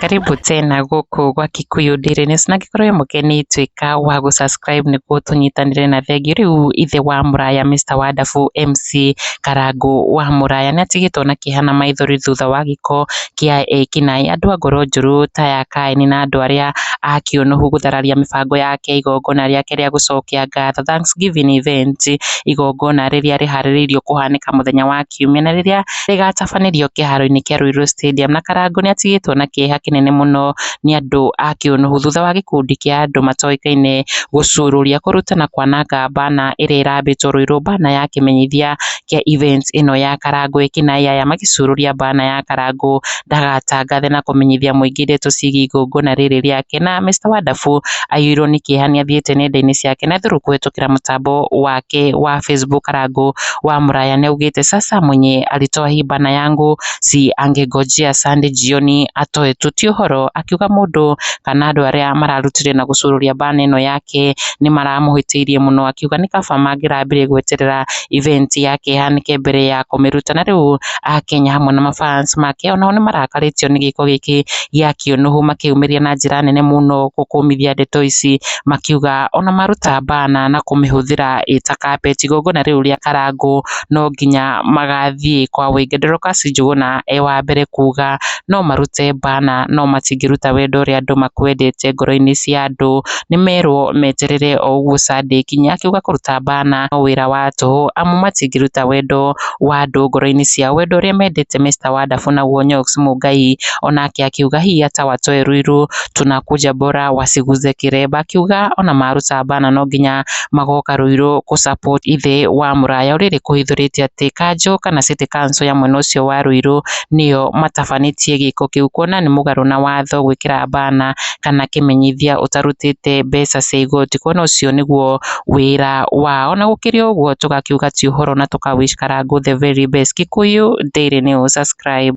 Karibu tena gũkũ gwa Kikuyu Daily News na angĩkorwo wĩ mũgeni tuĩka wa gũ subscribe nĩguo tũnyitanĩre na thengiũ. Rĩu ithe wa mũraya Mister Wonderful MC Karangũ wa mũraya nĩ atigĩtwo na kĩeha na maithori thutha wa gĩko kĩa ekinaĩ. Andũ a ngoro njũru ta ya Kaini na andũ arĩa a kĩũnũhu gũthararia mĩbango ya kĩa igongona rĩake rĩa gũcokia ngatho, Thanksgiving event, igongona rĩrĩa rĩharĩrĩirio kũhanĩka mũthenya wa Kiumia na rĩrĩa rĩgatabanĩrio kĩharo-inĩ kĩa Ruiru Stadium. Na Karangũ nĩ atigĩtwo na kĩeha kĩnene mũno nĩ andũ a kĩũnũhu thutha wa gĩkundi kĩa andũ matoĩkaine gũcurũria, kũruta na kwananga banner ĩrĩa ĩrambĩtwo Ruiru, banner ya kĩmenyithia kĩa events ĩno ya Karangũ Ekinaĩ aya magĩcurũria banner ya Karangũ ndagatangathe na kũmenyithia mũingĩ ndeto ciĩgiĩ igongona rĩrĩ rĩake na Mister Wonderful aiyũirwo nĩ kĩeha nĩ athiĩte nenda-inĩ ciake na through kũhĩtũkĩra mũtambo wake wa Facebook Karangũ wa mũraya nĩ augĩte sasa mwenye alitoa hii banner yangu si angengojea Sunday jioni atoe tu ti ũhoro akiuga mũndũ kana andũ arĩa mararutire na gũcurũria banner ĩno yake nĩ maramũhĩtĩirie mũno akiuga nĩ kaba mangĩrambire gweterera event yake ĩhanĩke mbere ya kũmĩruta. Na rĩu Akenya hamwe na ma fans make onao nĩ marakarĩtio nĩ gĩko gĩkĩ gĩa kĩũnũhũ makĩyumĩria na njĩra nene mũno kũmithia ndeto ici makiuga ona maruta mbana na kũmĩhũthĩra ĩta carpet igongona rĩu rĩa Karangũ no nginya magathiĩ kwa wũingĩ. Dorcas Njuguna e wa mbere kuga no marute mbana no matingĩruta wendo ũrĩa andũ makwendete ngoro-inĩ cia andũ. nĩ merwo meterere o ũguo Sunday ĩkinye akiuga kũruta bana no wĩra wa tũhũ amu matingĩruta wendo wa andũ ngoro-inĩ ciao, wendo ũrĩa mendete Mister Wonderful naguo Onyx Mũngai onake akiuga hii hata watoe Ruiru tunakuja bora wasiguze kiremba, akiuga ona maruta bana no nginya magoka Ruiru kũ support ithe wa mũraya ũrĩrĩ kũhithũrĩte atĩ kanjũ kana city council ya mwena ũcio wa Ruiru nĩyo matabanĩtie gĩko kĩu kuona nĩ mũgarũ na watho gwĩkĩra bana. kana kĩmenyithia ũtarutĩte mbeca cia igoti, kuona ũcio nĩguo wĩra wao. Na gũkĩrĩ ũguo tũgakiuga ti ũhoro na tũka wish Karangũ the very best. Kikuyu Daily News, subscribe.